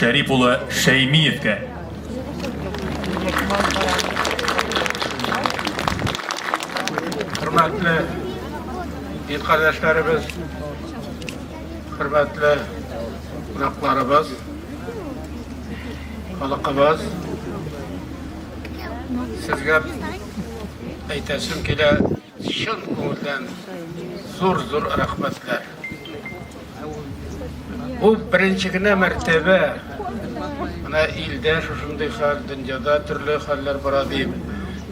Шәрип улы Шәймиевкә. Хөрмәтле ир кардәшләребез, хөрмәтле кунакларыбыз, халыкыбыз, сезгә әйтәсем килә, Чын күңелдән зур-зур рәхмәтләр. Бу беренче генә мәртәбә менә илдә шушындый хәл, дөньяда төрле хәлләр бара дип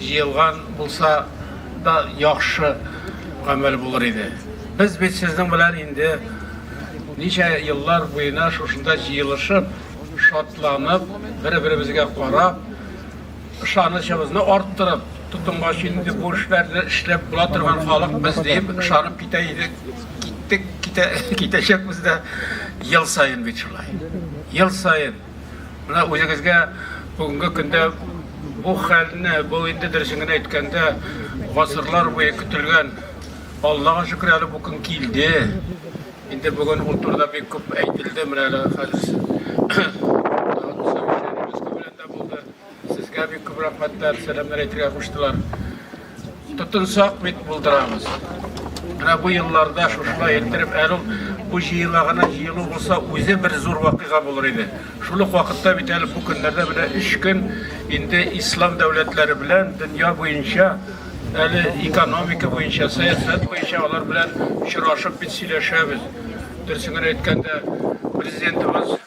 җыелган булса да яхшы гамәл булыр иде. Без бит сезнең белән инде ничә еллар буена шушында җыелышып, шатланып, бер-беребезгә карап, Ышанычыбызны арттырып, тотынгач инде бу эшләрне эшләп була торган халык без дип ышанып китә идек. Киттек, китә, китәчәкбез дә ел саен бит шулай. Ел саен. Менә үзегезгә бүгенге көндә бу хәлне, бу инде дөресен генә әйткәндә, гасырлар буе көтелгән, Аллага шөкер әле бу көн килде. Инде бүген ул турыда бик күп әйтелде, менә әле хәзер Булды. Сезгә бик күп рәхмәтләр, сәламнәр әйтергә куштылар. Тотынсак бит булдырабыз. Менә бу елларда шушылай иттереп, әле ул бу җыела гына җыелу булса, үзе бер зур вакыйга булыр иде. Шул ук вакытта бит әле бу көннәрдә менә өч көн инде ислам дәүләтләре белән дөнья буенча әле экономика буенча, сәясәт буенча алар белән очрашып бит сөйләшәбез. Дөресен генә әйткәндә, президентыбыз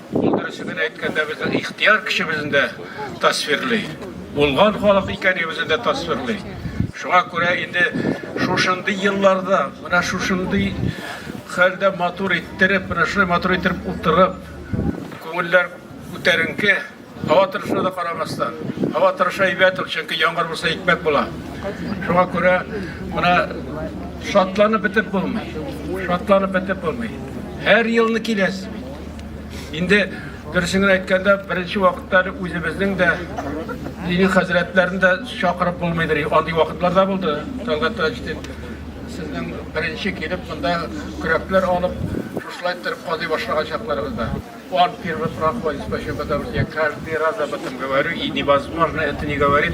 Ул дөресен әйткәндә безнең ихтияр көчебезне дә тасвирли. Булган халык икәнебезне дә тасвирли. Шуңа күрә инде шушындый елларда, менә шушындый хәлдә матур иттереп, менә шулай матур иттереп утырып, күңелләр күтәренке, һава торышына да карамастан. Һава торышы әйбәт ул, чөнки яңгыр булса икмәк була. Шуңа күрә менә шатланып бетеп булмый. Шатланып бетеп булмый. Һәр елны киләсез бит. Инде дөресен генә әйткәндә, беренче вакытта үзебезнең дә дини хәзрәтләрне дә чакырып булмыйдыр. Андый вакытлар да булды. Талгат Таҗетдин сезнең беренче килеп монда көрәкләр алып, шушылай торып казый башлаган чакларыбызда. Он первый проходит, почему? Потому что я каждый раз об этом говорю, и невозможно это не говорить.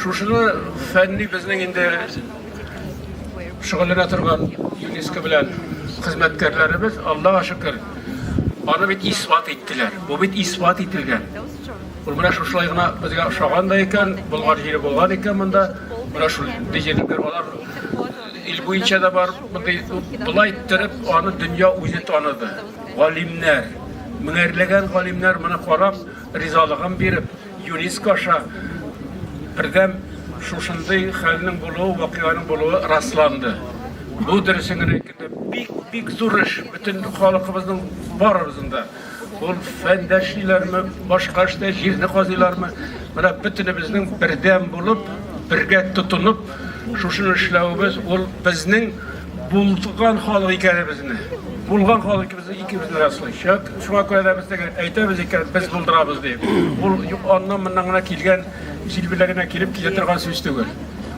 Шушыны фәнни безнең инде шөгыльләнә торган ЮНЕСКО белән хезмәткәрләребез, Аллага шөкер, аны бит исбат иттеләр. Бу бит исбат ителгән. Ул менә шушылай гына безгә ошаган да икән, Болгар җире булган икән монда. Менә шул дизелгер алар ил буенча да бар. Мондый болай иттереп аны дөнья үзе таныды. Галимнәр, меңәрләгән галимнәр моны карап, ризалыгын биреп, Юриск аша бердәм шушындый хәлнең булуы, вакыйганың булуы расланды. Бу дөресен генә әйткәндә, бик бик зур эш бөтен халкыбызның барыбызның да. Ул фәндәшлиләрме, башка эштә җирне казыйлармы, менә бөтенебезнең бердәм булып, бергә тотынып, шушыны эшләвебез ул безнең булган халык икәнебезне, булган халык Икебезне раслыйчак, шуңа күрә дә бездә әйтәбез икән, без булдырабыз дип. Ул аннан моннан гына килгән җилбелә генә килеп китә торган сүз түгел.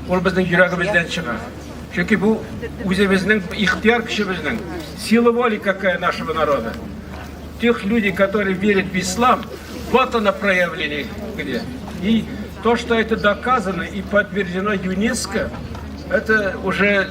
Ул безнең йөрәгебездән чыга. Чөнки бу үзебезнең ихтияр көчебезнең сила воли какая нашего народа. Тех люди, которые верят в ислам, вот она проявление где. И то, что это доказано и подтверждено ЮНЕСКО, это уже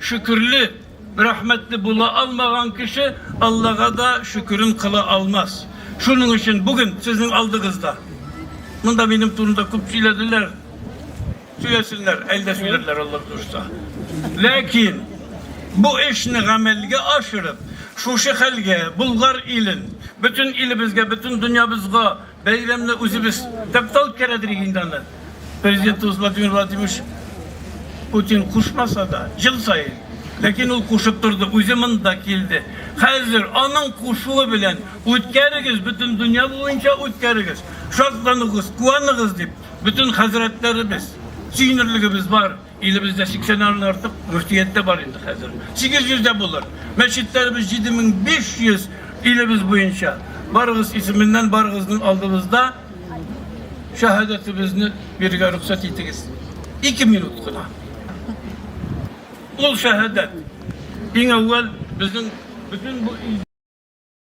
Шөкерле, рәхмәтле була алмаган кеше Аллага да шөкерен кыла алмас. Шуның өчен бүген сезнең алдыгызда, монда минем турында күп сөйләделәр, сөйләсеннәр, әле дә сөйләрләр Алла кушса. Ләкин бу эшне гамәлгә ашырып, шушы хәлгә, Болгар илен, бөтен илебезгә, бөтен дөньябызга Бәйрәмне үзебез тәптә үткәрәдер инде аны. Президентыбыз Владимир Владимирович Путин кушмаса да, ел саен Ләкин ул кушып торды, үзе монда килде. Хәзер аның кушуы белән үткәрегез, бөтен дөнья буенча үткәрегез. Шатланыгыз, куаныгыз дип, бөтен хәзрәтләребез, сөенерлегебез бар. Илебездә 80 нан артык мөфтият тә бар инде хәзер. 800 дә булыр. Мәчетләребез 7500 илебез буенча. Барыгыз исеменнән барыгызның алдыбызда шәһадәтебезне бирергә рөхсәт итегез. 2 минут кына. Ул шәһадәт иң әүвәл безнең бөтен бу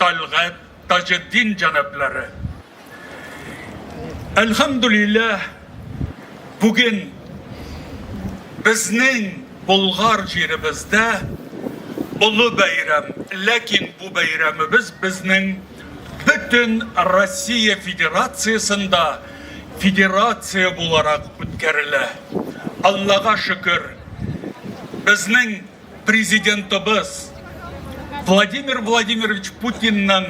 Тәлгать Таҗетдин җәнаплары. Әлхәмдулилләһ, бүген безнең Болгар җиребездә олы бәйрәм, ләкин бу бәйрәмебез безнең бөтен Россия Федерациясендә федерация буларак үткәрелә. Аллага шөкер, безнең Президентыбыз Владимир Владимирович Путинның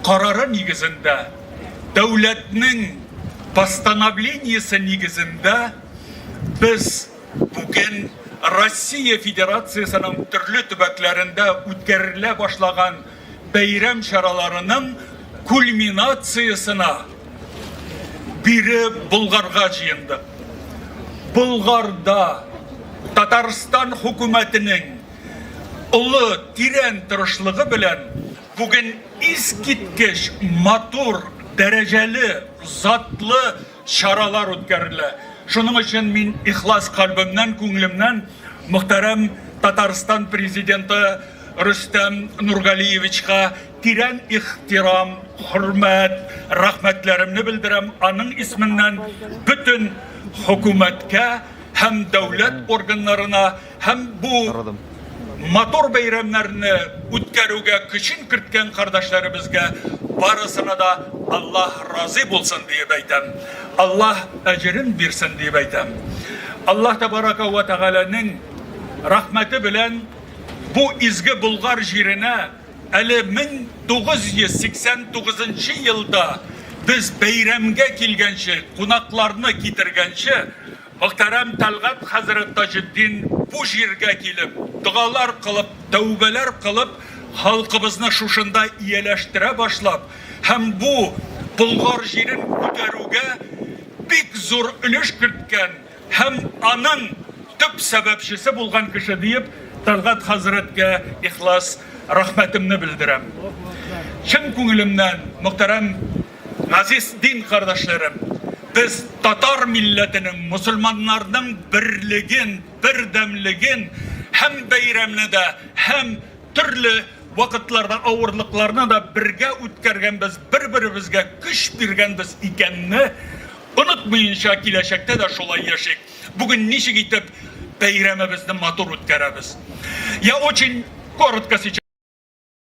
карары нигезендә, дәүләтнең постановлениесе нигезендә без бүген Россия Федерациясенең төрле төбәкләрендә үткәрелә башлаган бәйрәм чараларының кульминациясенә бире Болгарга җыенды. Болгарда Татарстан хөкүмәтенең олы тирән тырышлыгы белән бүген искиткеч матур, дәрәҗәле, затлы чаралар үткәрелә. Шуның өчен мин ихлас кальбемнән, күңелемнән мөхтәрәм Татарстан президенты Рөстәм Нургалиевичка тирән ихтирам, хөрмәт, рәхмәтләремне белдерәм. Аның исменнән бөтен хөкүмәткә һәм дәүләт органнарына Һәм бу матур бәйрәмнәрне үткәрүгә көчен керткән кардәшләребезгә барысына да Аллаһ разый булсын диеп әйтәм. Аллаһ әҗерен бирсен диеп әйтәм. Аллаһ тәбарәкә вә тәгаләнең рәхмәте белән бу изге Болгар җиренә әле 1989 елда без бәйрәмгә килгәнче, кунакларны китергәнче Мөхтәрәм Тәлгать хәзрәт Таҗетдин бу җиргә килеп, догалар кылып, тәүбәләр кылып, халкыбызны шушында ияләштерә башлап һәм бу Болгар җирен күтәрүгә бик зур өлеш керткән һәм аның төп сәбәпчесе булган кеше диеп, Тәлгать хәзрәткә ихлас рәхмәтемне белдерәм. Чын күңелемнән мөхтәрәм Газиз дин кардәшләрем, без татар милләтенең, мөселманнарның берлеген, бердәмлеген һәм бәйрәмне дә, һәм төрле вакытларда авырлыкларны да бергә үткәргәнбез, бер-беребезгә көч биргәнбез икәнне онытмыенча, киләчәктә дә шулай яшик. Бүген ничек итеп бәйрәмебезне матур үткәрәбез? Я очень коротко сейчас.